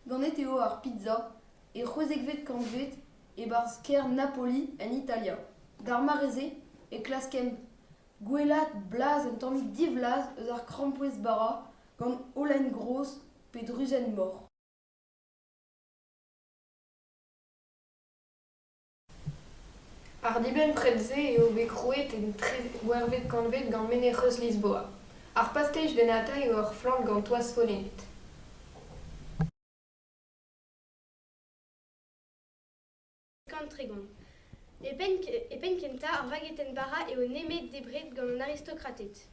Ganet eo ar pizza e c'hwezekvet kantved e-barzh kêr Napoli en Italia. D'ar mare-se e klaskent gwellaat blaz un tammig divlaz eus ar krampouezh bara gant holen gros pe druzenn mor. Ar dibenn-pred-se eo bet krouet en treuzwec'hvet kantved gant menec'heus Lisboa. Ar pastej dennata eo ur flant gant toaz follennet. E penn kentañ ar vagetenn bara eo nemet debret gant an aristokrated.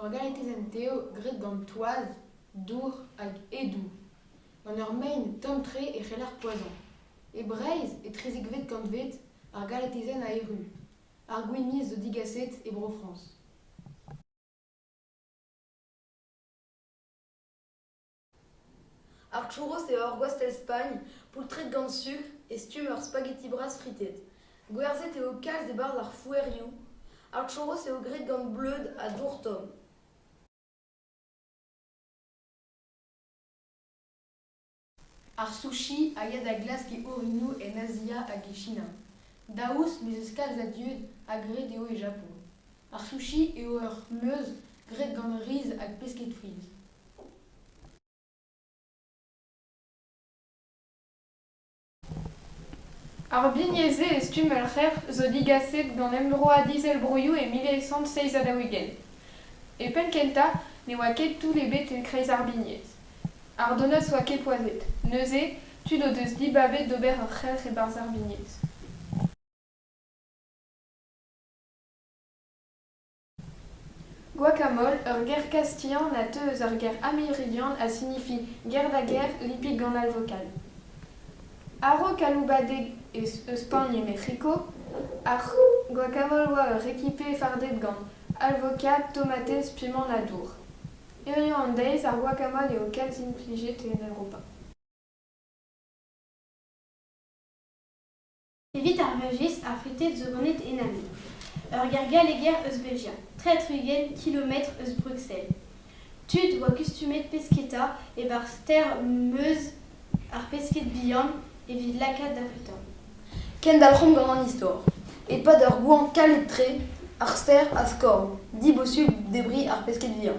ur garetezenn tev graet gant toaz dour hag edoù gant ur mein tomm-tre e c'heller poazhañ e breizh etrezekvet kantved ar garetezenn a erru ar gwinizh zo digaset e bro frañs Arturo eo ur gwastell Spagn, poultred gant sukr, e stumm ur spaghetti bras fritet. Gwerzhet eo kalz e-barzh ar fouerioù. Arturo eo graet gant bleud ha dour tomm. Ar sushi a ya da glask e orinoù en Azia hag e China. Daoust m'ez eus kalz a dud ha graet eo e Japon. Ar sushi eo ur meuz graet gant riz hag pesked friz. Ar bignez-se e stumm ur c'hrec'h zo digaset d'an emvroad Izelvroioù e mil eizh kant seizh ha daou-ugent. E penn-kentañ ne oa ket toull ebet en kreiz ar bignez. Ardonas oa ket poazhet, neuze tud o deus dibabet d'ober ur c'helc'h e-barzh ar bignez. Guacamole, ur ger kastilhan a teu eus ar ger américain ha signifie guerre da guerre lippig gant al vokal. A-raok aloubadeg eus Spagn e Mec'hiko, ar guacamole oa ur rekipe farded gant alvoka, tomatez, pimant ha dour. Hiziv an deiz, ar guacamole eo kalz implijet en Europa. Evit ar Veujist, ar Freted zo ganet en Amiens, ur gêr galleger eus Belgia, tre-tri-ugent kilometr eus Bruxelles. Tud oa kustumet pesketa e-barzh stêr Meuse ar pesked bihan evit lakaat da c'hwitan. Kendalc'homp gant an istor. E-pad ur goañv kalet-tre, ar stêr a skorn dibosubl debriñ ar pesked vihan.